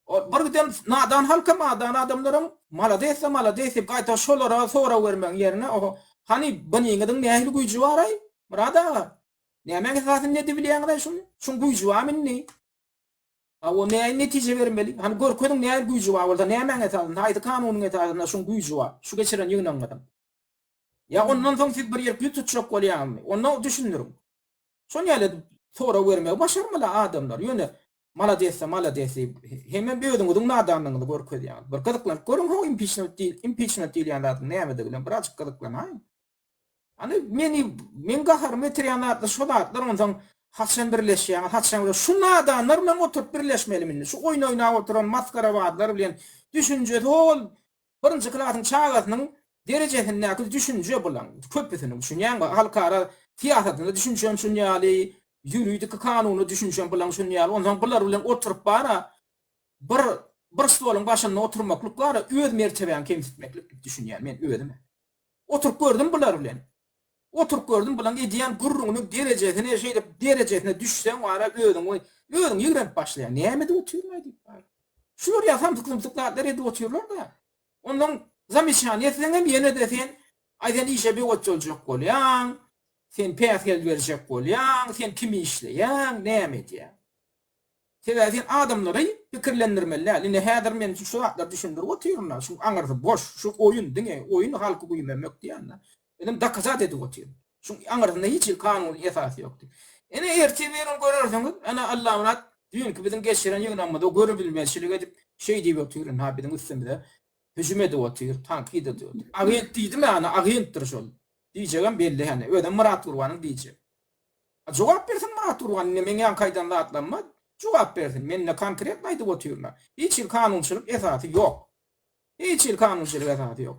Ol bir giden nadan halka madan adamlaryň malades-de malades diýip gaýta şolara sorag bermegiň ýerine oho, hany biniňiziň nähili güýji bar-aý, Myrat aga? Nämäň esasynda edibilýäňiz-aý şuny? Şuň güýji barmy indi? A o nähili netije bermeli? Hany görkeziň nähili güýji bar bolsa, nämäň esasynda, haýsy kanunyň esasynda şuň güýji bar, şu geçiren ýygnagyňyzyň? Ýa ondan soň siz bir ýerki ýüz tutjak bolýaňyzmy? Onda düşündiriň. Şon ýaly edip sorag bermegi başarmala adamlar ýöne maladessa maladessi hemem özüňiziň nadanlygyňyzy görkezýäňiz bir gyzyklanyp görüň ho impiçment diýil impiçment diýilýän zadyň nämedigine birazjyk gyzyklanaýyň Ýani meni meň gaharymy getirýän zatlar şo zatlar onsaň haçan birleşýäňiz haçan bilen şu nadanlar bilen oturyp birleşmelimi indi şu oýun oýnap oturan masgarabazlar bilen düşünjesi hol birinji klasyň çagasynyň derejesindäki düşünje bulaň köpüsiniň düşünýäňmi halkara syýasatyna düşünjäm şun ýaly ýuridiki kanuna düşünjäm bulaň şun ýaly onsoň bular bilen oturyp bara bir bir stoluň başynda oturmaklyk bara öz mertebäňi kemsitmeklik diýip düşünýän men özüm. Oturyp gördüm bular bilen. Oturyp gördüm bulaň edýän gürrüňiniň derejesine şeýdip derejesine düşseň wara özüň we özüň ýigrenip başlaýaň näme edip otyryn-aý diýip wara. Şular ýa samsyk-sumsyk zatlar edip otyrlar-da. Ondan zamyçany etseňem ýene-de sen aý sen işe biwagt boljak bolýaň, sen päsgel berjek bolýaň, sen kimi işleýäň, näme edýäň. Sebäbi sen adamlary pikirlendirmeli däl. Indi häzir men şu zatlary düşündirip otyryn-da, şu aňyrsy boş, şu oýun, diňe oýun halky güýmenmek diýen-de. Özem dokazat edip otyryn. Şu aňyrsynda hiç hili kanuny esasy ýok diýip. Ine ertir birigini görersiňiz, ana Allamyrat düýnki biziň geçiren ýygnagymyza görübilmezçilik edip, şeý diýip otyr indi-ha biziň üstümize hüjüm edip otyr, tankyt edip otyr. Agent diýdim-ä, ana agentdir şol. Diýjegem belli hany, özem Myrat Gurbanyň diýjegi. A jogap bersin Myrat Gurban indi meň ýaňky aýdan zatlaryma jogap bersin mende konkretno aýdyp otyryn-a hiç hili kanunçylyk esasy ýok hiç hili kanunçylyk esasy ýok.